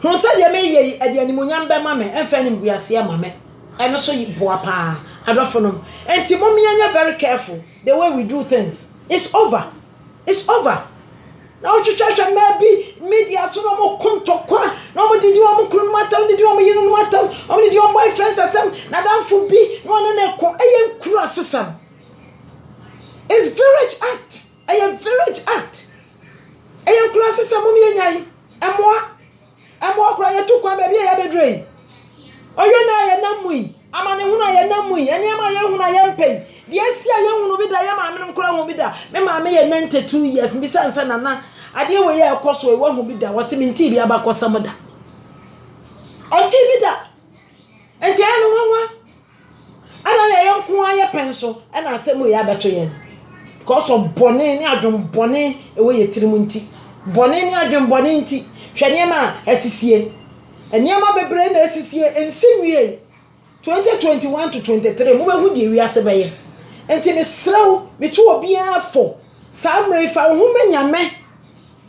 Hunu sɛ deɛ mereyɛ yi, ɛde animuonyam bɛma me, ɛmfa animguaseɛ ma me. Ɛno so boa paa, adɔfonom. Enti mom yɛnyɛ very careful the way we do things. It's over. It's over. Na wohwehwɛhwɛ mmaa bi media so na wɔko ntɔkwa, na wɔdidi wɔn kununom atam, wɔdidi wɔn yerenom atam, wɔdidi wɔn boyfriends atam, n'adamfo bi na wɔne no ko. Ɛyɛ nkuru asesam. It's village act. Ɛyɛ village act. Ɛyɛ nkuraase sɛ mom yɛnya yi mmoa. Mmoa koraa yɛtu kwan baabi a yɛabɛduru yi. Ɔyɛ no a yɛnam mu yi, amanehunu a yɛnam mu yi, nneɛma a yɛhunu a yɛmpɛ yi, deɛ asi a yɛhunu bi da, yɛ maame nom koraa hu bi da. Me maame yɛ 92 years, mbisa no sɛ nana adeɛ wei a ɛkɔ so yi wahu bi da, ɔse mentee bi abakɔsɛm da. Ɔntee bi da. Nti ɛyɛ no nwanwa. Ana yɛ yɛn nko ara yɛ pɛn so na asɛm wei abɛto yɛn? Because of bɔne ne adwen bɔne ɛwɔ yɛ tirim nti. Bɔne ne adwen bɔne nti. Hwɛ nneɛma a asisie. Nneɛma bebree na asisie, ɛnsi nwiei. 2021 to 23, mobɛhu deɛ wiase bɛyɛ. Nti mesrɛ wo, metu obiara fo, saa mmerɛ yi fa wo ho ma Nyame,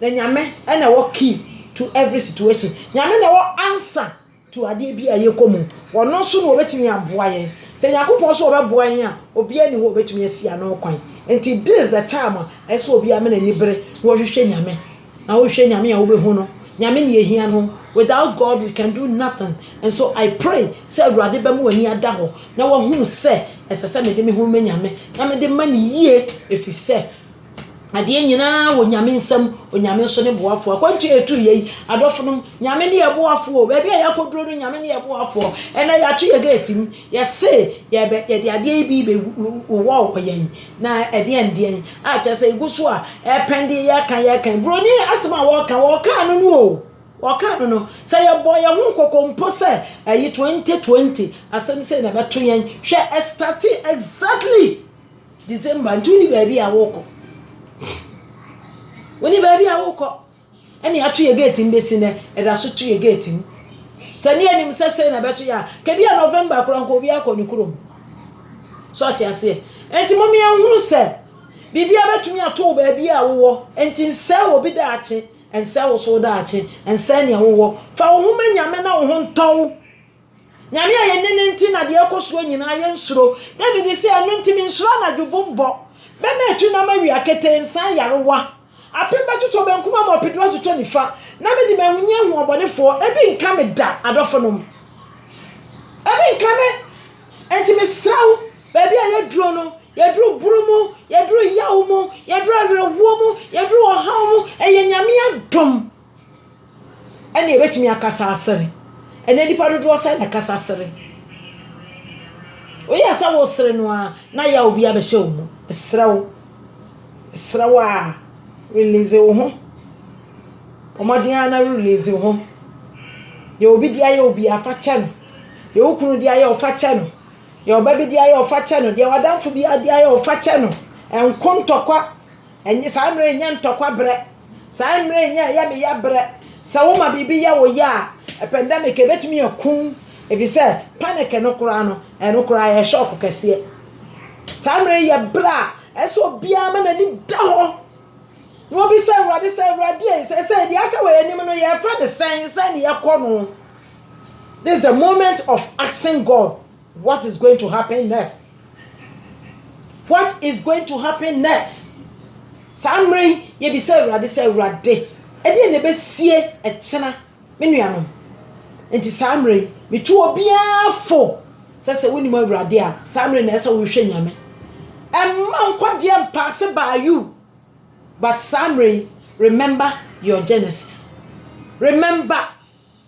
na Nyame na ɛwɔ key to every situation. Nyame na ɛwɔ answer. tu adeɛ bi a yɛkɔ mu. Ɔno nso na ɔbɛtumi aboa yɛn. Sɛ Nyankopɔn sɛ ɔbɛboa yɛn a, obiara nni hɔ a ɔbɛtumi asi ano kwan. Nti this is the time a ɛsɛ sɛ obiara ma n'ani bere na ɔhwehwɛ Nyame. Na wohwɛ Nyame a wobɛhu no. Nyame na yɛhia no. Without God we can do nothing. And so I pray sɛ Awurade bɛma w'ani ada hɔ na wahunu sɛ ɛsɛ sɛ mede me ho ma Nyame na mede ma no yie ɛfiri sɛ Adeɛ nyinaa wɔ Nyame nsam, Onyame nso ne boafoɔ. Akwantu a yɛtu yei, adɔfonom, Nyame ne yɛ boafoɔ. Baabi a yɛakɔduro no, Nyame ne yɛ boafoɔ. Ɛnɛ yɛato yɛ gate mu, yɛse yɛbɛ yɛde adeɛ yi bi bɛwɔ wɔ yɛn na ɛdeɛn deɛn a kyerɛ sɛ egu so a ɛpɛn de yɛka yɛka. Buroni asɛm a wɔka, wɔka no no o. Wɔka no no. Sɛ yɛbɔ yɛn ho kɔkɔ mpo sɛ ɛyi 2020 asɛm sei na ɛbɛto yɛn. Hwɛ ɛstate exactly. December nti woni baabi a wokɔ woni baabi a wokɔ ɛne ato yɛ gate mu bɛsi nɛ ɛda so to yɛ gate mu sɛ ne anim sɛ sɛ na ɛbɛto yɛ a kɛbi a november kora nka obi akɔ ne kurom so ɔte aseɛ ɛnti mo mmea nhunu sɛ biribi a bɛtumi ato wo baabi a wowɔ ɛnti nsɛ wɔ bi daakye ɛnsɛ wo so daakye ɛnsɛ nea wowɔ fa wo ho ma nyame na wo ho ntɔw Nyame a yɛne no nti na deɛ ɛkɔ soɔ nyinaa yɛnsuro. David se, Ɛno nti mensuro anadwo bu mbɔ. Bɛma atu na ama wia ketee nsa ayarewa. Apem bɛtotɔ benkum ama ɔpedu atotɔ nifa, na mede m'ahonya ahu ɔbɔnefoɔ. Ebi nka me da, adɔfonom. Ebi nka me. Enti mesrɛ wo, baabi a yɛduro no, yɛduro bunu mu, yɛduro yaw mu, yɛduro awerɛhoɔ mu, yɛduro ɔhaw mu, ɛyɛ Nyame adom ɛna yɛbɛtumi akasa asere. Ɛnɛ nnipa dodoɔ sɛn na ɛkasa sere? Woyɛ sɛ wosere no ara na yaw bi abɛhyɛ wo mu. Mesrɛ wo, mesrɛ wo a, release wo ho. Bɔ mmɔden ara na release wo ho. Deɛ obi de ayɛ wo biara, fa kyɛ no. Deɛ wo kunu de ayɛ wo, fa kyɛ no. Deɛ ɔba bi de ayɛ wo, fa kyɛ no. Deɛ w'adamfo biara de ayɛ wo, fa kyɛ no. Ɛnko ntɔkwa. Ɛnyɛ saa mmerɛ yi nyɛ ntɔkwa berɛ. Saa mmerɛ nyɛ ɛyɛ me ya berɛ. Sɛ woma biribi yɛ wo ya a, pandemic ɛbɛtumi aku wo ɛfiri sɛ panic no koraa no, ɛno koraa ɛyɛ shock kɛseɛ. Saa mmerɛ yi yɛ berɛ a ɛsɛ sɛ obiara ma n'ani da hɔ na wɔbisa Awurade sɛ, Awurade ei, seesei deɛ aka wɔ yɛn anim no yɛrefa no sɛn, sɛn na yɛkɔ no? This is the moment of asking God What is going to happen next? What is going to happen next? Saa mmerɛ yi, yɛbisa Awurade sɛ, Awurade, ɛdeɛn na ɛbɛsie ɛkyena, me nuanom? Nti saa mmerɛ yi, metu obiara fo sɛ sɛ wonim Awurade a, saa mmerɛ na ɛsɛ wohwɛ Nyame. Ɛmma nkwagyeɛ mpaase by you, but saa mmerɛ yi, remember your Genesis. Remember.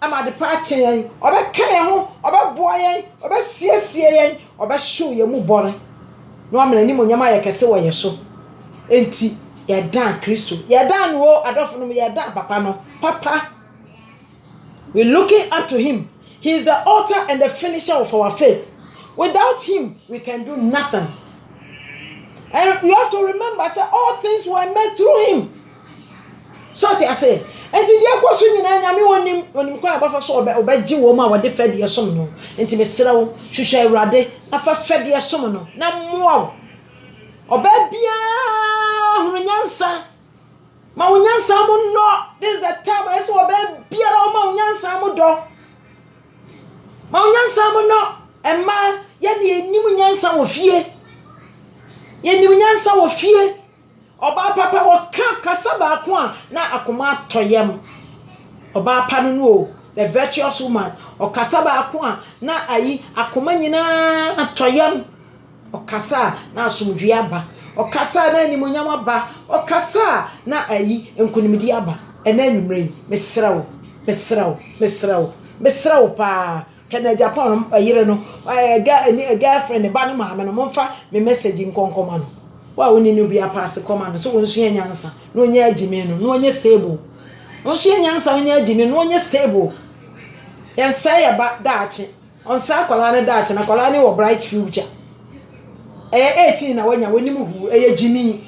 Ama adepa akye yɛn. Ɔbɛka yɛn ho, ɔbɛboa yɛn, ɔbɛsiesie yɛn, ɔbɛhyew yɛn mu bɔne, na wama n'animuonyam ayɛ kɛse wɔ yɛn so. Enti, yɛdan Kristo. Yɛdan no o, adɔfo no, yɛdan Papa no. Papa. We looking up to him. He is the author and the finisher of our faith. Without him, we can do nothing. And you have to remember, say, all things were made through him. So ɔte ase? Enti deɛ ɛkɔ so nyinaa nyame wɔ nim onim kwan a ɔbɛfa so ɔbɛ ɔbɛgye wɔn a wɔde fɛdeɛ som no nti mesrɛ wo hwehwɛ awurade na fa fɛdeɛ som no na mmoa wo ɔbaa biara hunu nyansa ma wo nyansa mu nnɔ this is the time a ɛsɛ ɔbaa biara ɔma wo nyansa mu dɔ ma wo nyansa mu nnɔ ɛma yɛne yɛnim nyansa wɔ fie yɛnim nyansa wɔ fie Ɔbaa pa pa ɔka kasa baako a na akoma atɔ yam. Ɔbaa pa no no o, the virtuous woman, ɔkasa baako a na ayi akoma nyinaa tɔ yam. Ɔkasa a na asomdwoe aba. Ɔkasa a na animuonyam aba. Ɔkasa a na ayi nkonimdi aba. Ɛnnɛ anwummere yi, mesrɛ wo, mesrɛ wo, mesrɛ wo, mesrɛ wo paa. Hwɛ na Japan no yere no girl friend ne ba no maame no momfa me message nkɔ nkɔma no wo a wone no bi apaase kɔma no so wonsua nyansa na onya agyimi no na onyɛ stable wonsua nyansa onya agyimi no onyɛ stable yɛnsɛe yɛ ba daakye ɔnsɛe akwadaa no daakye na akwadaa no wɔ bright future ɛyɛ 18 na wanya w'anim hu ɛyɛ gyimi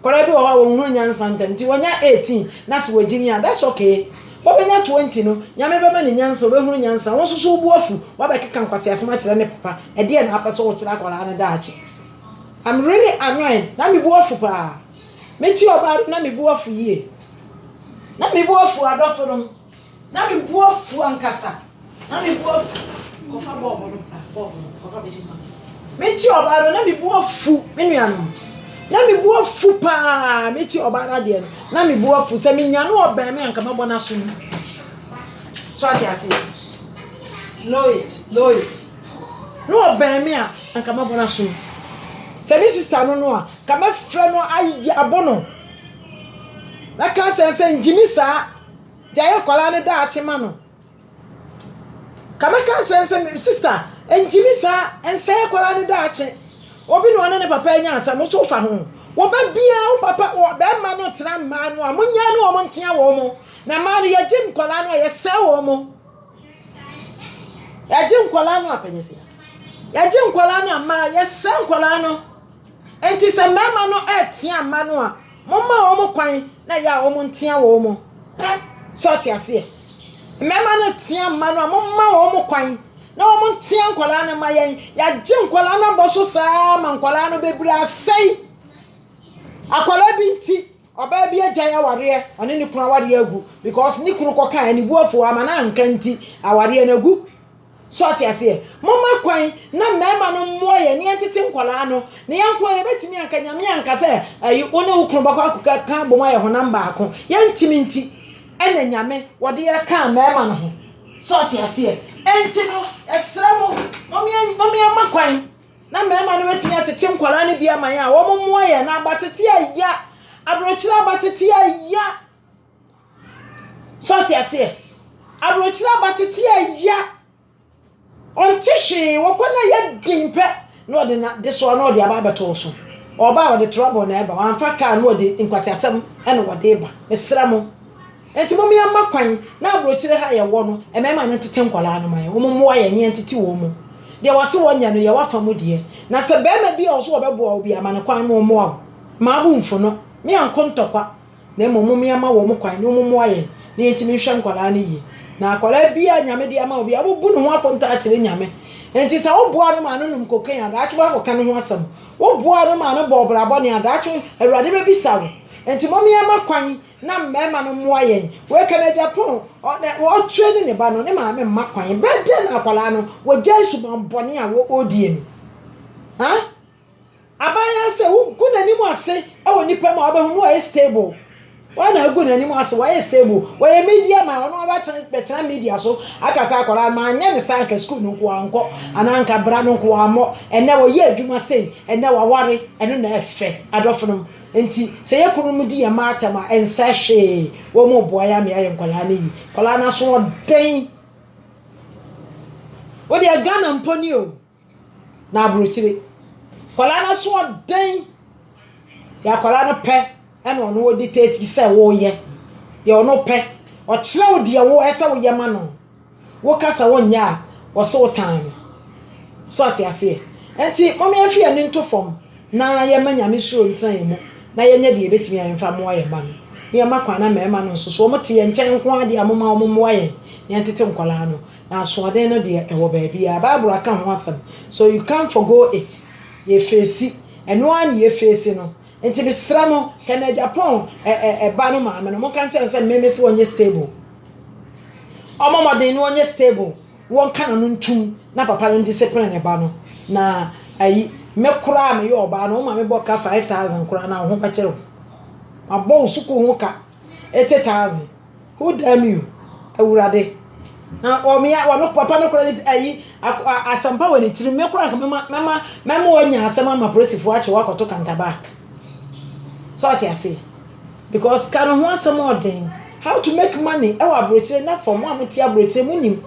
Nkwadaa bi wɔ hɔ a wɔnhunu nyansa ntɛm nti wɔnya 18 na se wɔgye ni a that's okay Ɔbɛnya 20 no Nyame bɛma no nyansa ɔbɛhunu nyansa wo nso so wobu afu wabɛkeka nkwaseasem akyerɛ ne papa ɛdeɛn na wapɛ sɛ wokyerɛ akwadaa no daakye I'm really annoyed na mebu afu paa mete ɔbaa no na mebu afu yie na mebu afu adɔfonom Na me bo afu ankasa. Na me bo afu. Kɔfa bɔɔbo no bra. Bɔɔbo no kɔfa bɛhyɛ ma. Meti ɔbaa no na me bo afu me nuanom. Na me bo afu paa. Meti ɔbaa no adeɛ no. Na me bo afu sɛ me nya no ɔbɛn me anka mabɔ n'aso mu. So ate aseɛ. Slow it, slow it. No ɔbɛn me a anka mabɔ n'aso mu. Sɛ me sista no no a, ka mɛfrɛ no ayɛ abɔ no. Mɛka kyerɛ sɛ ngyimi saa gyae akwadaa no daakye ma no. Ka mɛka nkyerɛ no sɛ me sista ngyimi saa nsɛe akwadaa no daakye. Obi na ɔne ne papa anya asɛm nso wofa ho. Wo ba biara wo papa wɔ bɛrima no tena mmaa no a monyɛ ne wɔn ntea wɔn mo. Na mmaa no yɛgye nkwadaa no a yɛsɛe wɔn mo. Yɛgye nkwadaa no a panyɛsi. Yɛgye nkwadaa no a mmaa yɛsɛe nkwadaa no. Nti sɛ mmarima no ɛtea mma no a. Momma wɔn kwan na ɛyɛ a wɔn ntea wɔn mo. So ɔte aseɛ? Mmɛma no tea mma no a momma wɔn mo kwan na wɔn ntea nkwadaa no ma yɛn. Yɛagye nkwadaa no abɔ so saa ma nkwadaa no bɛbiri asɛe. Akwadaa bi nti, ɔbaa bi agyae awareɛ, ɔne ne kunu awareɛ agu because ne kunu kɔkaa anibuafoɔ ama no anka nti awareɛ no agu. So ɔte aseɛ? Momma kwan na mmarima no mmoa yɛn na yɛntete nkwadaa no. Na yɛn nko yɛbɛtumi anka nyame anka sɛ ayi wo ne wo kunu bɛkɔ akɔka ka abom ayɛ honam baako. Yɛntumi nti ɛna nyame wɔde yɛ kaa mmarima no ho. So ɔte aseɛ? Ɛnti no ɛsrɛ mo wɔn yɛn ma kwan na mmarima no bɛtumi atete nkwadaa no bi ama yɛn a wɔn mmoa yɛn na abatete ɛya aburokyerɛ abatete ɛya So ɔte aseɛ? Aburokyire aba tete a ɛya. Ɔnte hwee, wɔkɔ no ɛyɛ den pɛ na ɔde na de soɔ na ɔde aba abɛto wo so. Ɔba a ɔde trɔbɔ na ɛba, wɔamfa kaa na ɔde nkwaseasɛm na ɔde ba. Mesrɛ mo. Nti mo mmea mma kwan na aburokyire ha yɛwɔ no, mmarima no ntete nkwadaa no ma yɛn. Wɔn mmoa yɛn na yɛntete wɔn mu. Deɛ wɔse wɔnyɛ no yɛ wafa mu deɛ. Na sɛ barima bi a ɔso ɔbɛboa wo bi a, ma no kwan ma ɔmmoa wo. Mmaa bo mfu no. Me anko ntɔkwa. na mmom momea ma wɔn kwan na wɔn mmoa yɛn na yɛntumi nhwɛ nkwadaa no yie. Na akwadaa biara nyame de ama obi a wobu ne ho akonta akyerɛ nyame. Enti sɛ woboa no ma no nom cocaine a daakye woakɔka ne ho asɛm. Woboa no ma no bɔ ɔbra bɔne a daakye Awurade bɛbisa wo. Enti momea ma kwan na mmarima no mmoa yɛn. Wei ka na Japan ɔtwerɛ ne ne ba no ne maame mma kwan. Bɛdɛ na akwadaa no wɔgyae suban bɔne a wɔdie no. Ha? Aban ara sɛ wogu n'anim ase wɔ nnipa mu a wobɛhu no wɔyɛ stable. Wɔn na agu n'anim ase wɔyɛ stable. Wɔyɛ media man wɔn abɛtena bɛtena media so akasa akwadaa no manyɛ ne saa nka sukuu no nko ankɔ anaa nka bra no nko ammɔ ɛnɛ wɔyɛ adwuma sei ɛnɛ waware ɛno na ɛfɛ adɔfo nom nti sɛ yɛ kunu mu di yɛn mma atɛm a ɛnsɛ hwee wɔn mu boa yɛ ama yɛayɛ nkwadaa no yi nkwadaa no aso ɔden wodeɛ Ghana mpo ni o. na aburokyire. Akwadaa no asoɔden yɛ akwadaa no pɛ na ɔno ɔdiktati sɛ woyɛ deɛ ɔno pɛ. Ɔkyerɛ wo deɛ wo ɛsɛ sɛ woyɛ ma no. Woka sɛ wonyɛ a, ɔse wo tan no. So ate aseɛ? Nti mom yɛmfa yɛn ani nto fam na yɛmma Nyame suro ntena yɛn mu na yɛnyɛ deɛ yɛbɛtumi a yɛmfa mmoa yɛn mma no. Na yɛmma kwan na mmarima no nso so wɔte yɛn nkyɛn nko ara deɛ a momma wɔmmoa yɛn na yɛntete nkwadaa no. Asoɔden no deɛ ɛwɔ baabiara. Bible aka ho asɛm. So you can't forgo it. Yɛ feesi. Ɛno ara ne yɛ feesi no. Nti mesrɛ mo, Kenneth Agyapong ɛ ɛ ɛba no maame no, monka nkyerɛ no sɛ me mese ɔnyɛ stable. Ɔmmɔ mmɔden na ɔnyɛ stable. Wɔnka n'ano ntum na papa no ndiscipline ne ba no. Na ayi, me koraa a meyɛ ɔbaa no, wo maame bɔ ka 5000 koraa no a, wo ho bɛkyere wo. Mabɔ wo sukuu ho ka. Eighty thousand who damn you awurade na wɔn ya wɔn papa no kora ne ayi asɛmpa wɔ ne tirim me kora nka mɛma mɛma mɛma wɔanya asɛm ama polisifoɔ akye wɔakɔto kantabak sɛ ɔte ase because ka no ho asɛm ɔden how to make money ɛwɔ aburokyire na fam a mote aburokyire mo nim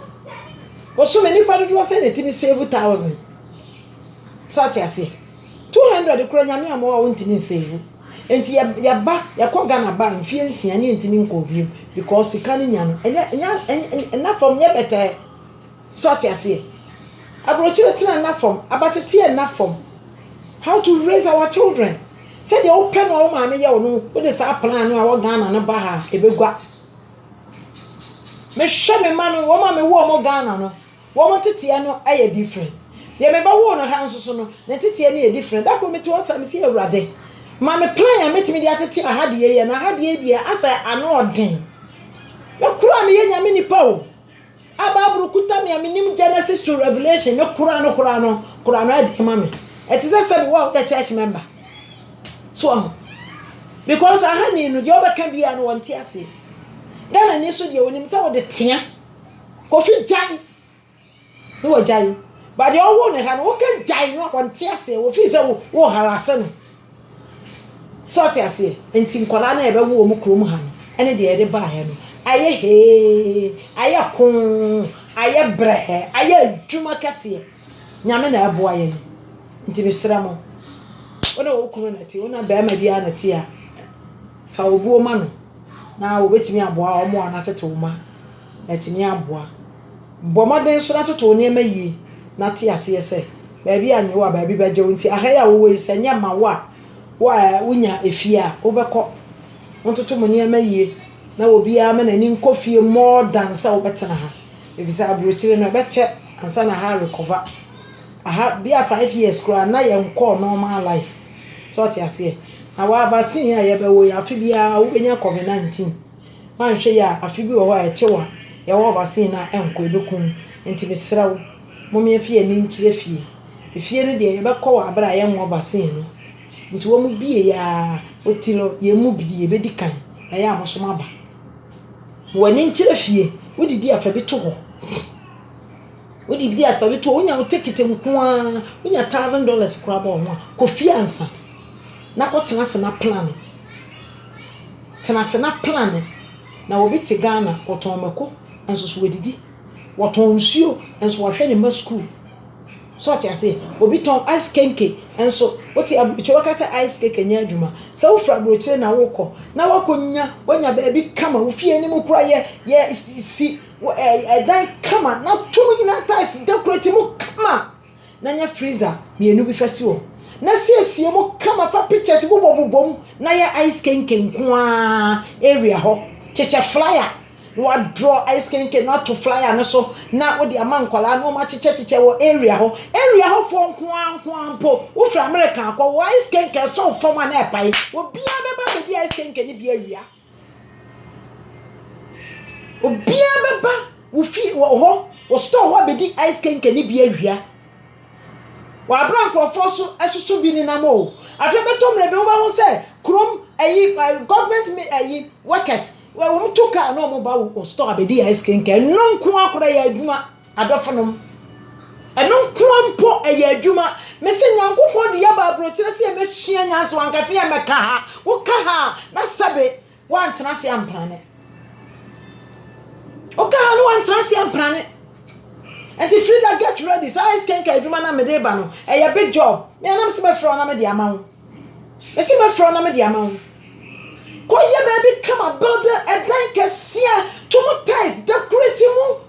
wɔsom nnipa dodoɔ sɛ na ɛtumi save thousand sɛ ɔte ase two hundred kora nyame a mo a wɔntumi nsave Nti yɛ yɛba yɛkɔ Ghana ba mfeɛ nsia ne yɛntumi nkɔɔ bio because sika no nya no ɛnyɛ ɛnyɛ ɛnyɛ ɛnna fam nyɛ bɛtɛɛ so ate aseɛ aburokyire tena nna fam abatete yɛ nna fam how to raise our children sɛdeɛ wopɛ no a wo maame yɛ wo no wode saa plan no a wɔ Ghana no ba ha ɛbɛgua mehwɛ me ma no wɔn a mewɔ wɔn Ghana no. Wɔn nteteɛ no yɛ different. Deɛ me ba woo no ha nso so no, ne nteteɛ no yɛ different. Da koro mete hɔ saa, mese Awurade, ma me plan a mɛtumi de atete aha deɛ yɛ, na aha deɛ deɛ asɛ ano ɔden. Me koraa meyɛ nyame nipa o. A Bible kuta me a menim Genesis to Revelation, me koraa no koraa no koraa no ɛden ma me. Ɛte sɛ sɛbi wo a woyɛ church member. So ahu. Because aha ni no, deɛ ɔbɛka biara no wɔnte aseɛ. Ghana ni so deɛ wɔnim sɛ wode tea. Kofi gyae na wagyae ba deɛ ɔwoo ne ha no woka gyae no a ɔnte aseɛ wɔfii sɛ wo wo harase no sɛ ɔte aseɛ nti nkwadaa no ɛbɛwo wɔ mu kurom ha no ɛne deɛ yɛde baeɛ no ayɛ hee ayɛ koo ayɛ brɛɛ ayɛ adwuma kɛseɛ nyame na ɛboa yɛn nti mesrɛ mo wone wo kunu na ti wona bɛrima biara na ti a fa obuo ma no na wɔbɛtumi aboa wɔn a wɔatete wo ma atumi aboa. Bɔ mmɔden nso na toto wo nneɛma yie na te aseɛ sɛ baabi a nyɛ wo a baabi bɛgye wo nti aha yi a wowɔ yi sɛ nyɛ ma wo a wo a wonya efie a wobɛkɔ ntoto mo nneɛma yie na obiara ma n'ani nkɔ fie more than sɛ wobɛtena ha ɛfiri sɛ aburokyire no ɛbɛkyɛ ansa na aha recover aha bi a five years koraa na yɛnkɔɔ normal life sɛ ɔte aseɛ na wa vaccine a yɛbɛwɔ yi afe biara wobɛnya covid 19 Woanhwɛ yie a afe bi wɔ hɔ a ɛkyew a yɛwɔ wɔ vaccine no a ɛnkɔ, ɛbɛku wo. Nti mesrɛ wo, mom yɛmfa yɛn ani nkyerɛ fie. Efie no deɛ yɛbɛkɔ wɔ aberɛ a yɛnwɔ vaccine no. Nti wɔn bie yɛ a, Otilo, yɛn mu bi yɛbɛdi kan na yɛ a mo nso moaba. Mo ani nkyerɛ fie, wodidi a fa bi to hɔ. Wo de di afa bi to hɔ, wonya wo tekete nko ara, wonya thousand dollars koraa bɔ wo ho a, kɔ fie ansa na kɔtena ase na plane. Tena ase na plane. Na obi te Ghana, ɔtɔn mako, nso so wadidi. Wɔtɔn nsuo, nso wahwɛ ne mma sukuu. So ɔte aseɛ? Obi tɔn ice kenke, nso wote aburokyire wɔka sɛ ice kenke nyɛ adwuma. Sɛ wofiri aburokyire na wokɔ na wakɔnya wanya baabi kama, wo fie anim koraa yɛ yɛ si Wɔ ɛɛ dan kama na to mu nyinaa tiles decorate mu kama na nya freezer mmienu bi fa si hɔ na siesie mu kama fa pictures bobɔ bobɔ mu na yɛ ice kenken nko ara area hɔ kyekyɛ flyer na wadraw ice kenken no ato flyer no so na wode ama nkwadaa na wɔn akyekyɛ kyekyɛ wɔ area hɔ area hɔ foɔ nko ara nko ara mpo wofiri america akɔ wɔ ice kenken sɔw fam a na ɛpae obiara bɛba bɛdi ice kenken no bi awia. Obiara bɛba wo fie wɔ hɔ wɔ store hɔ abɛdi ice kenken no bi awia. Wɔabrɛ nkurɔfoɔ so soso bi nenam o. Afei bɛtɔ mmerɛ bi wobɛhu sɛ kurom ayi ɛ government mi ayi workers wɔtu kaa na wɔba wo store abɛdi ice kenken. Ɛno nko ara koraa yɛ adwuma. Adɔfonom, ɛno nko ara mpo ɛyɛ adwuma. Mese Nyankopɔn de yɛaba aburokyerɛ sɛ yɛbɛsua nyansa, wanka sɛ yɛmmɛka ha. Woka ha a, na sɛbe woantena ase amprane. Woka ha no woantena ase amprane. Nti Frida get ready, saa ice kenka adwuma na mede ba no, ɛyɛ big job. Me anam se mɛfrɛ wo na mede ama wo. Mese mɛfrɛ wo na mede ama wo. Kɔyɛ baabi kama, build ɛdan kɛseɛ, to mu tiles, decorate mu,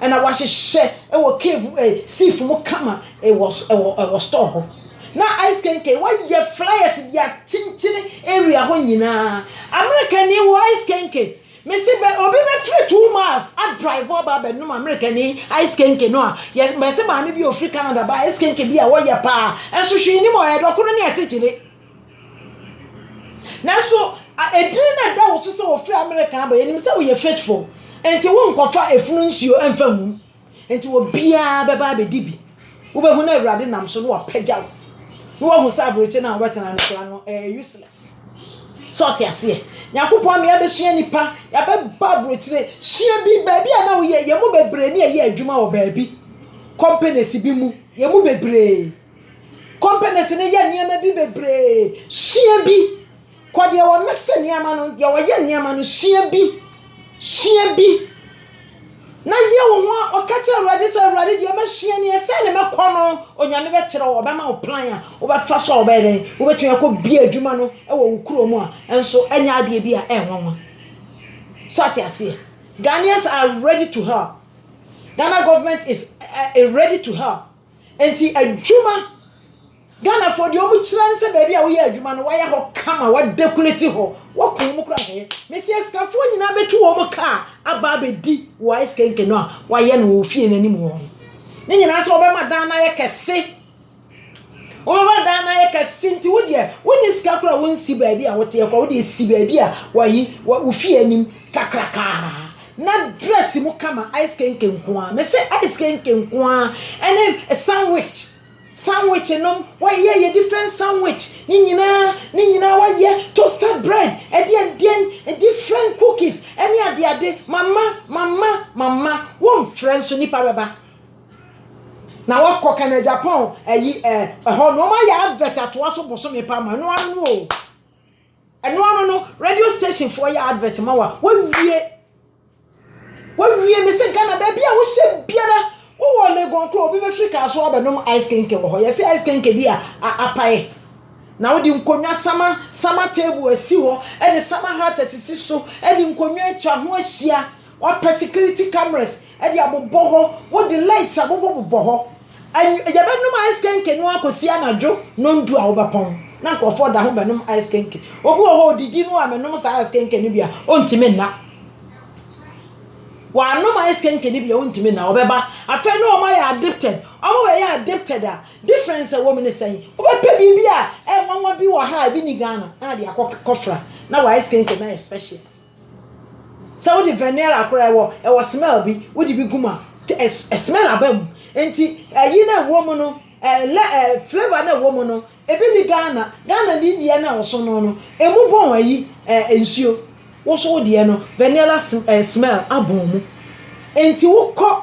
Ɛna wahyehyɛ ɛwɔ cave ɛɛ safe mu kama ɛwɔ ɛwɔ ɛwɔ store hɔ. Na ice kenken wayɛ flyers de akyenkyene area hɔ nyinaa. Amerikani wɔ ice kenken. Mesi bɛ obi bɛfiri two miles adrive aba abɛnom Amerikani ice kenken no a yɛ mɛsi maame bi a ofiri Canada ba ice kenken bi a wɔyɛ paa. Nsohwee nim ɔyɛ dɔkono ne asikyire. Nanso, edin no a ɛda wo so sɛ wofiri Amerika aba, yɛnim sɛ woyɛ faithful, enti wonkɔfa efunu nsuo mfa ngu mu. Enti obiara bɛba abɛdi bi. Wobɛhu na Awurade nam so na wapagya wo. Na woahu sɛ aberɛkyɛ no a wobɛtena no koraa no, ɛyɛ useless. Sɛ ɔte aseɛ. Nyankopɔn ama yɛabɛsua nnipa, yɛabɛba aberɛkyire. Sua bi, baabi a na woyɛ, yɛn mu bebree ne yɛyɛ adwuma wɔ baabi, companies bi mu, yɛn mu bebree. Companies no yɛ nneɛma bi bebree, sua bi. Kɔ deɛ wɔ mix nneɛma no, deɛ wɔyɛ nneɛma no, sua bi. Sua bi. Na yɛ wo ho a ɔka kyerɛ Awurade sɛ Awurade deɛ mɛsua ni ɛsɛ ne mɛkɔ no. Onyame bɛkyerɛ wo, ɔbɛma wo plan a wobɛfa so a wobɛyɛ dɛn. Wobɛtumi akɔ bia adwuma no wɔ wo kuro mu a, nso ɛnyɛ adeɛ bi a ɛnwanwa. So ate aseɛ? Ghanaians are ready to help. Ghana government is uh, ready to help. Enti adwuma, Ghanafoɔ deɛ wɔn kyerɛ ne sɛ baabi a woyɛ adwuma no wɔayɛ hɔ kama, wɔadekuleti hɔ, wɔko wɔn kora hɛɛ. Mesi asikafoɔ nyinaa bɛtu wɔn kaa aba abɛdi wɔ ice kenken no a wɔayɛ no wɔ fie no anim hɔ. Ne nyinaa sɛ wɔbɛma dan no ayɛ kɛse. Wɔbɛma dan no ayɛ kɛse nti wo deɛ wonni sika kora wonsi baabi a woteɛ kora wode si baabi a wɔyi wo fie anim kakrakaa. Na dress mu kama ice kenke nko ara mese ice kenke nko ara ɛne sandwich sandwich nom wɔyɛ yɛ different sandwich ne nyinaa ne nyinaa wɔyɛ toasted bread ɛdeɛ ɛdeɛ different cookies ɛne ade ade mama mama mama wɔmfrɛ nso nipa bɛba na wɔkɔ kana japan ɛyi ɛhɔ na wɔayɛ advert atoa so bosome pa ma no ano o. Ɛno ano no radio station foɔ yɛ advert ma wa wɔwie wɔwie me sɛ Ghana baabi a wohyɛ biara wowɔ Legon koro obi bɛfiri kaa so abɛnom ice kenke wɔ hɔ yɛsɛ ice kenke bi a apae na wode nkonnwa sama sama table asi hɔ ɛne sama hat asisi so ɛde nkonnwa atwa ho ahyia wapɛ security cameras de abobɔ hɔ, wode lights abobɔ bobɔ hɔ. Anw yɛbɛnom ice kenke no akɔsi anadwo nondu a wobɛpɔn na nkurɔfoɔ da ho bɛnom ice kenke. Obi wɔ hɔ ɔdidi no a menom saa ice kenke no bi a ɔntumi nna. Wanom ice kenke no bi a ɔntumi nna ɔbɛba. Afei na wɔn ayɛ addicted. Wɔn bɛyɛ addicted a difference a ɛwɔ mu ne sɛn? Wobɛpɛ biribi a ɛnwanwa bi wɔ ha a ebi ni Ghana na ade akɔ kɔfra na wɔ ice kenke no ayɛ special. Sɛ wode vanilla akora ɛwɔ ɛwɔ smell bi wode bi gu mu a smell aba mu nti ɛyi na ɛwɔ mu no ɛlɛ ɛ flavour na ɛwɔ mu no ebi ni Ghana Ghana ni deɛ na ɔso no no emu bɔn ɛyi ɛ nsuo woso deɛ no vanilla smell abɔn mu nti wokɔ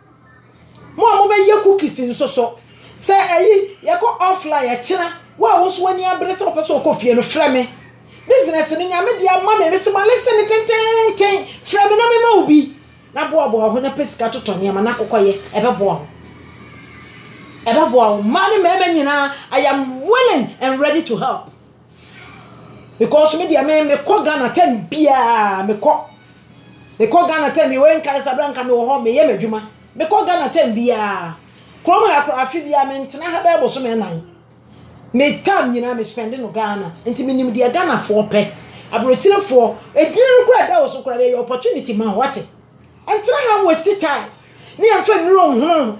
Mo a mobɛyɛ cookies nso so, sɛ ɛyi yɛkɔ offline ɛkyena, wo a wo nso w'ani abere sɛ wopɛ sɛ wokɔ fie no, frɛ me. Business no, Nyame de ama me, mese ma listen no tenteenten, frɛ me na mema wo bi. Na boaboa wo ho na pɛ sika totɔ nneɛma na kɔkɔyɛ, ɛbɛboa wo. Ɛbɛboa wo, mmaa ne mmarima nyinaa, I am willing and ready to help. Because me deɛ me mekɔ Ghana time biara mekɔ. Mekɔ Ghana time bi wei nkae sɛ berɛ a nka mewɔ hɔ meyɛ m'adwuma. Mekɔ Ghana time biara. Kurom ha koraa afe biara mentena ha bɛyɛ bosome nnan. Me time nyinaa me spɛnde no Ghana. Nti menim deɛ Ghanafoɔ pɛ. Aborɔkyirefoɔ, edin no koraa a ɛda wo so koraa no ɛyɛ opportunity ma wo, woate. Ɛntena ha nwɛsti time ne ɛmfa nnuro nhunu wo ho.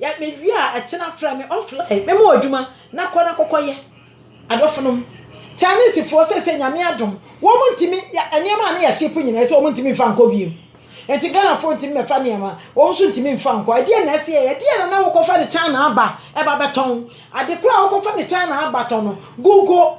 Yɛ me wie a ɛkyena frɛ me off line me mo adwuma na kɔ na kɔkɔ yɛ. Adɔfo nom. Chinese foɔ sɛsɛ nyame adom wɔn ntimi nneɛma a ne yɛ ship nyina ɛsɛ wɔn ntimi nfa nkɔ biem. Nti Ghana foɔ ntimi mɛfa nneɛma wɔn nso ntimi nfa nkɔ ɛdeɛ na ɛsɛ yɛ ɛdeɛ na na wokɔ fa ne China aba ɛba bɛtɔn ade koro a wokɔ fa ne China aba tɔ no google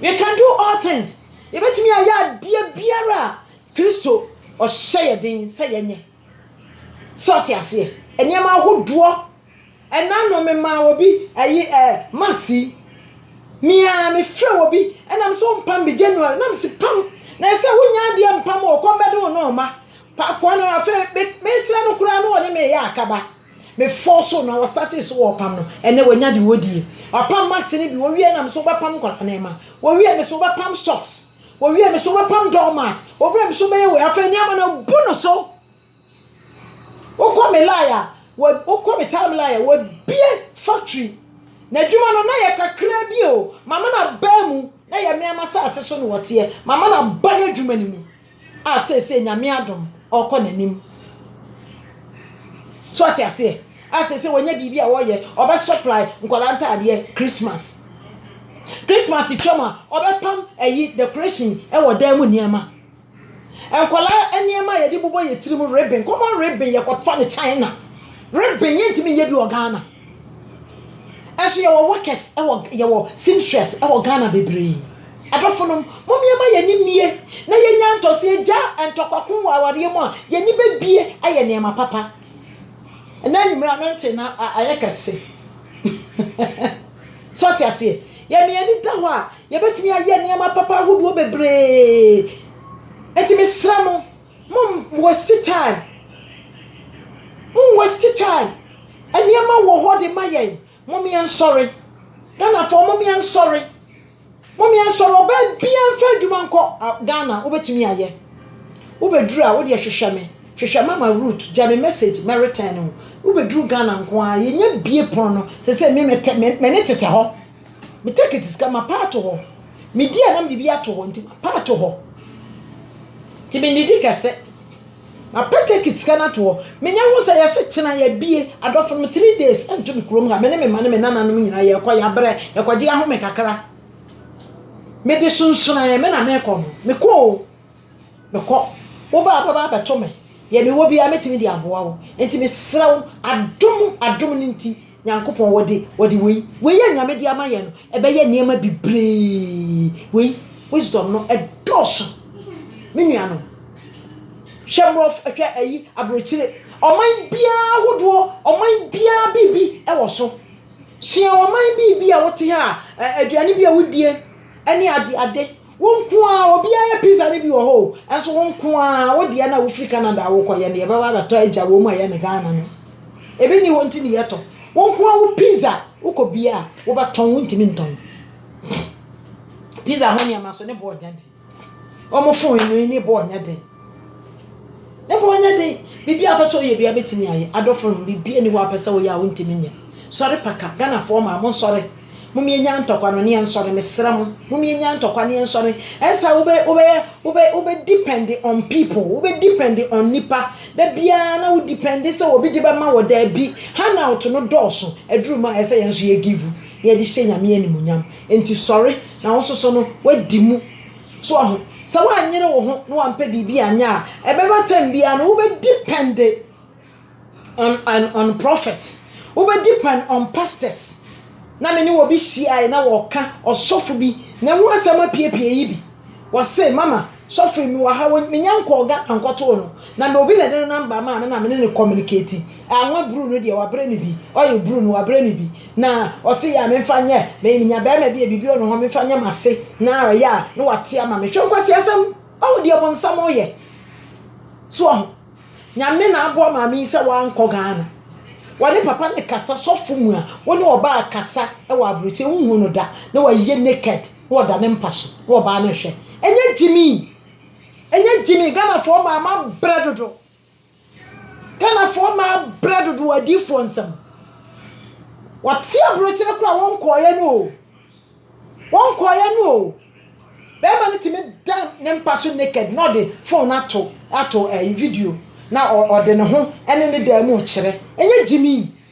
We can do all things. Yɛbɛtumi ayɛ adeɛ biara a Kristo ɔhyɛ yɛ den sɛ yɛnyɛ. Sɛ ɔte aseɛ. Nneɛma ahodoɔ. Ɛna no memaa obi ayi ɛɛ eh, masi. Mia mefrɛ obi ɛna m so mpam bi January na m si pam. Na ɛsɛ wonya adeɛ mpam o kɔmbɛde wo nɔɔma. Pakoa no afei mekyerɛ no koraa na ɔne me yɛ akaba. Me fɔɔ so na wɔ startee so wɔ ɔpam no ɛnɛ wanya deɛ ɔdi yɛ ɔpam mask no bi wɔ wiɛ na me so wɔ bɛ pam nkɔla nɛɛma wɔ wiɛ me so wɔ bɛ pam stocks wɔ wiɛ me so wɔ bɛ pam doormat wɔ wiɛ me so bɛyɛ wɔ afɛ ni ama na bu no so wokɔ me lie a wokɔ me time lie a wɔ bie factory na adwuma no na yɛ kakra bi o mama na baa mu na yɛ meama saase so na wɔteɛ mama na baa adwuma ni mu a seesei Nyame adom ɔɔkɔ n'anim. So ɔte aseɛ? A seesei wɔnya biribi a wɔyɛ, ɔbɛ supply nkwadaa ntaadeɛ Christmas. Christmas twam a, ɔbɛ pam ɛyi decoration ɛwɔ dan mu nneɛma. Nkwadaa nneɛma yɛde bobɔ yɛn tiri mu, ribbon, common ribbon yɛkɔ fa no China. Ribbon yɛntumi nyɛ bi wɔ Ghana. Nso yɛwɔ workers wɔ yɛwɔ seamstress wɔ Ghana bebree. Adɔfonom, mom yɛma yɛn ani mmie na yɛnya ntɔ sɛ yɛgya ntɔkwako wɔ awareɛ mu a, yɛn ani bɛbie ayɛ nneɛma papa. Ɛnɛ anwummerɛ anointing na ayɛ kɛse. so ɔte aseɛ. Yɛn yɛn ani da hɔ a, yɛbɛtumi ayɛ nneɛma papa ahodoɔ bebree. Eti mesrɛ mo, Mom waste time. Mom waste time. Nneɛma wɔ hɔ de ma yɛn. Mom yɛn nsɔre. Ghana fo mom yɛn nsɔre. Mom yɛn nsɔre. Ɔbaa bia nfa adwuma nkɔ Ghana. Wobɛtumi ayɛ. Wobɛduru a wode hwehwɛ me. Hwehwɛ mama root. Gya me message mɛ return wo. Wobɛduru Ghana nko ara. Yɛnya bie pono no. Sɛsɛ me mɛ ne tete hɔ. Me tekit sika mapa ato hɔ. Me di a na mede bi ato hɔ nti mapa ato hɔ. Nti mennidi kɛse. Mapa tekit sika no ato hɔ. Menya ho sɛ yɛse kyena yɛabie. Adɔfo no me three days nto me kurom ha. Me ne me mma ne me nananom nyinaa yɛkɔ yɛabrɛ yɛkɔgye yɛahome kakra. Mede sonsonoɛ me na mekɔ no. Mekɔ o. Mekɔ. Wo ba a wobɛba abɛto me, deɛ mewɔ biara mɛtumi de aboa wo. Enti mesrɛ wo, adom, adom no nti, Nyankopɔn, wɔde, wɔde wei, wei a Nyame de ama yɛn no, ɛbɛyɛ nneɛma bebree. Wei, wisdom no, ɛdɔɔso. Me nuanom, hwɛ mmorɔf, hwɛ ayi, aburokyire. Ɔman biara ahodoɔ, ɔman biara biribi ɛwɔ so. Sua ɔman biribi a wote ha a, aduane bi a wodie, ɛne ade, ade. Wo nko ara, obiara yɛ pizza no bi wɔ hɔ o, nanso wo nko ara, wo deɛ no a wofiri Canada a wokɔyɛ no, yɛbɛba abɛtɔ agya wɔ mu a ɛyɛ ne Ghana no. Ebi nni hɔ nti ne yɛtɔ. Wo nko ara wo pizza, wokɔ bia a, wobɛtɔn, wontumi ntɔn. Pizza ho nneɛma nso, ne boɔ nyɛ den. Wɔn fon no, ne boɔ nyɛ den. Na mmom nyɛ den. Biribi a wopɛ sɛ woyɛ biara bɛtumi ayɛ. Adɔfo no, biribi nni hɔ a wopɛ sɛ woyɛ a wontumi nyɛ. Sɔre paka. Ghanafoɔ mmaa, monsɔre. Mom yɛnnya ntɔkwa no ne yɛnsɔre. Mesrɛ mo. Mom yɛnnya ntɔkwa ne yɛnsɔre. Ɛnsa wobɛ, wobɛyɛ, wobɛ, wobɛ depend on people. Wobɛ depend on nipa. Da biara na wo depend sɛ obi de bɛma wɔ. Daabi. Handout no dɔɔso. Aduru mu a ɛsɛ yɛn nso yɛ give. Na yɛde hyɛ Nyame animuonyam. Enti sɔre. Na wo nso so no, woadi mu. So ahu? Sɛ woanyere wo ho na wampɛ biribi anyɛ a, ɛbɛba time biara no wobɛ depend on on on prophet, wobɛ depend on pastors. Na me ne obi hyiae na wɔka ɔsɔfo bi na ɛho asɛm apiepie yi bi. Wɔse mama sɔfo yi mewɔ ha me nya nkɔɔ Ghana nkɔtoo no na me obi na ɛde no number maa me na me ne no communicate. Anwa bruu no deɛ wabrɛ me bi, oil bruu no wabrɛ me bi. Na ɔse yɛ a memfa nyɛ me menya bɛrima bi a biribi wɔ ne hɔ memfa nyɛ m'ase na ɛyɛ a na wate ama me hwɛ nkwasiasɛm ɔho deɛ bonsam ɔyɛ so ɔho nyame na aboa maame yi sɛ wankɔ Ghana wɔne papa ne kasa sɔfo mu a wo ne ɔbaa kasa ɛwɔ aburokyɛ wohu no da na wɔyɛ naked na wɔda ne mpa so na ɔbaa no hwɛ ɛnyɛ gyimi ɛnyɛ gyimi Ghanafoɔ maama brɛ dodo Ghanafoɔ mmaa abrɛ dodoɔ adiyifoɔ nsam. Wɔte aburokyire koraa a wɔnkɔeɛ no o. Wɔnkɔeɛ no o. Bɛrima no tumi da ne mpa so naked na ɔde phone no ato ato ɛyi video na ɔde ne ho ɛne ne dan mu rekyerɛ. Ɛnyɛ gyimii.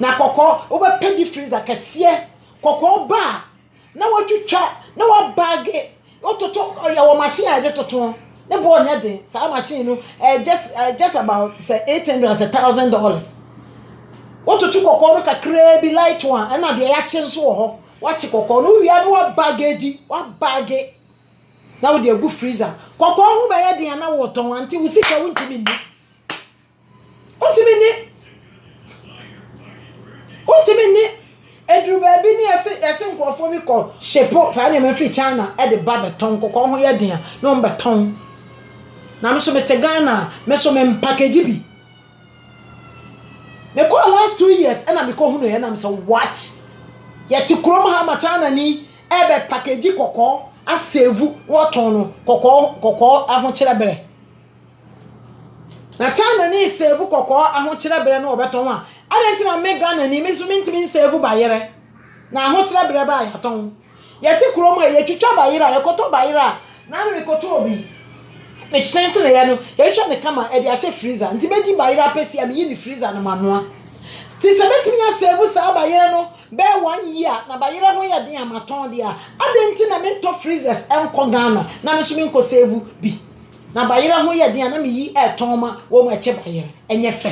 Na kɔkɔɔ, wobɛpɛ deep freezer kɛseɛ. Kɔkɔɔ ba a, na watwitwa, na wabaage, wototo, yɛwɔ machine a yɛde toto, ne boɔ nyɛ den. Saa machine no, uh, just, uh, just about sɛ eight hundred sɛ thousand dollars. Wototo kɔkɔɔ no kakraa bi light one, ɛna deɛ yɛakye nso wɔ hɔ. Wakye kɔkɔɔ no, wowia no wabaage, wabaage, na wode agu freezer. Kɔkɔɔ ho bɛyɛ den a na wotɔn, ante wo sika wontumi nni. Wontumi ne wontumi ne ɛduru baabi ne yɛse yɛse nkurɔfoɔ bi kɔ shipo saa nneɛma firi China ɛde ba bɛtɔn kɔkɔɔ ho yɛ den a na wɔn bɛtɔn na me nso mete Ghana a me nso me mpakagye bi mekɔɔ last two years ɛna mekɔ hunu yɛ na me sɛ what yɛte kurom ha ma China ni ɛbɛ pakagye kɔkɔɔ asɛvu na wɔtɔn no kɔkɔɔ kɔkɔɔ ahokyerɛ berɛ. Na China ni save kɔkɔɔ ahokyerɛ berɛ no wɔbɛtɔn a adɛn nti na me Ghana ni me nso mentumi nsave bayerɛ na ahokyerɛ berɛ baa yɛatɔn yɛte kurom a yɛtwitwa bayerɛ a yɛkɔtɔ bayerɛ a na ano mekɔtɔ obi mekyerɛ sɛ na yɛ no yɛhwɛ ne kama ɛde ahyɛ freezer nti bɛdi bayerɛ apɛsi a meyi ne freezer no manoa ti sɛ bɛtumi asave saa bayerɛ no bɛɛ one year na bayerɛ ho yɛ den a matɔn deɛ a adɛn nti na mentɔ freezers nkɔ Ghana na me nso menkɔ save bi Na bayerɛ ho yɛ den a na me yi ɛtɔn ma wɔn mu ɛkyɛ bayerɛ ɛnyɛ fɛ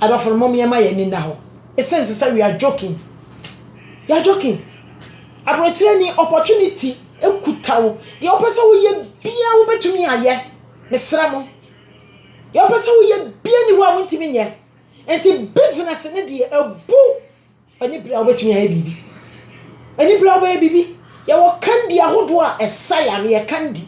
adɔfo no mom yɛ ma yɛ ani nna hɔ ɛsɛm sɛ sɛ we are joking we are joking abrokyerɛ ni opportunity ɛkuta wo deɛ wopɛ sɛ wo yɛ bia wo bɛtumi ayɛ mesrɛ mo deɛ wopɛ sɛ wo yɛ bia ni hɔ a wo ntimi nyɛ ɛnti business ne deɛ ɛbu Ɛne bere a wobɛtumi ayɛ biribi. Ɛne bere a wobɛyɛ biribi. Yɛwɔ kandi ahodoɔ a ɛsa yareɛ, kandi.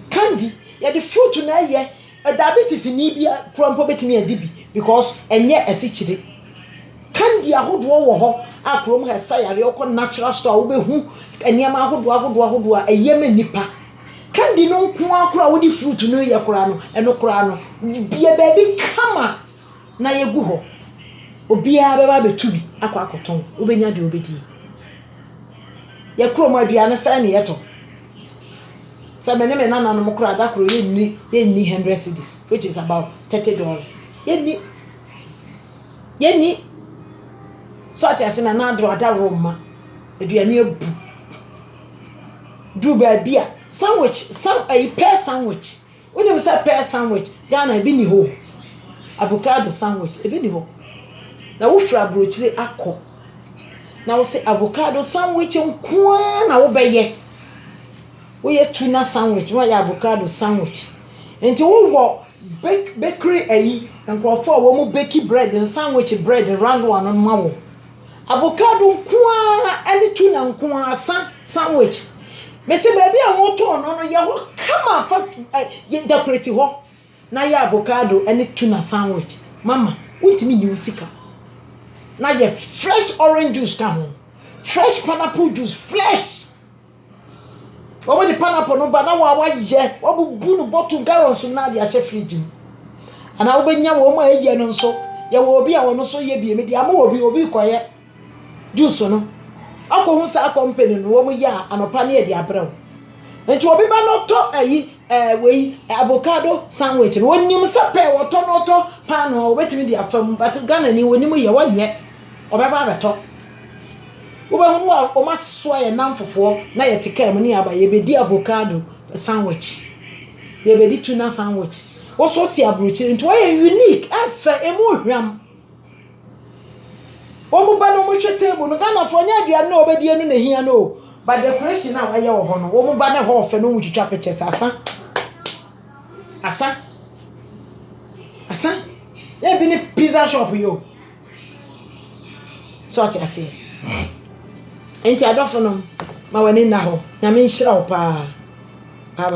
Kandi, yɛde fruit na ɛyɛ. Diabetes ni bi koraa mpo bɛtumi adi bi because ɛnyɛ asikyire. Kandi ahodoɔ wɔ hɔ a kurom ha ɛsa yareɛ. Wokɔ natural store a wobɛhu nneɛma ahodoɔ ahodoɔ ahodoɔ a ɛyɛ ma nnipa. Kandi no nko ara koraa a wode fruit no reyɛ koraa no, ɛno koraa no, yɛ baabi kama. na yegu hɔ, obiara bɛba abɛtu bi akɔ akɔtɔn, wobɛnya deɛ wobɛdie. Yɛ kurom aduane sɛn ne yɛtɔ? Sɛ me ne me nananom koraa da koro yɛnni yɛnni hundred cedis which is about thirty dollars yɛnni yɛnni so ate ase na n'adoro adaworo mma aduane abu duru baabi a sandwich san ayi pɛɛ sandwich. Wonim sɛ pear sandwich Ghana ebi nni hɔ o, avocado sandwich ebi nni hɔ. Na wofiri aburokyire akɔ na wo se avocado sandwich nko ara na wobɛyɛ. Woyɛ tuna sandwich na woayɛ avocado sandwich. Nti wowɔ bake bakery ayi nkurɔfoɔ a wɔn beki bread no sandwich bread no round one no ma wo. Avocado nko ara ne tuna nko ara sa sandwich. Mese baabi a wɔtɔn no no yɛ hɔ kama fa ɛ dekoreti hɔ na yɛ avocado ne tuna sandwich. Mama wontumi nyi wo sika. Na yɛ fresh orange juice ka ho, fresh pineapple juice, fresh. Wɔde pineapple no ba na wɔn a wɔayɛ, wɔabubu no bottle, gallon so na wɔde ahyɛ fridge mu. Anaa wobɛnya wɔn a wɔyɛ no nso. Yɛwɔ obi a ɔno nso yɛ bi, mede ama obi, obi rekɔyɛ juice no. Akɔhu saa company no, wɔyɛ a, anɔpa ne yɛde abrɛ wo. Nti obi ba na ɔtɔ ayi, ɛɛ wei, avocado sandwich no, ɔnim sɛ pɛ ɔtɔ na ɔtɔ paanoo a, ɔbɛtumi de afa mu. But Ghanani, ɔnim yɛ, ɔnyɛ, ɔbɛba abɛtɔ. Wobɛhu mu a wɔasoa yɛn nnamfofoɔ na yɛte kaa mu ne yɛaba. Yɛbɛdi avocado sandwich. Yɛbɛdi tuna sandwich. Wo nso wote aburokyire nti wɔyɛ unique, ɛfɛ, ɛmu hwam. Wɔn ba no wɔhwɛ table no, Ghanafoɔ nyɛ aduane na wɔbɛdi ɛno na ɛhia no o. But decoration a wɔayɛ wɔ hɔ no, wɔn ba no hɔ fɛ na wɔtwitwa pictures. Asa. Asa. Asa. Yɛ bi ne pizza shop yi o. So ate aseɛ? Nti adɔfo nom, ma w'ani nna hɔ. Nyame nhyira wo paa.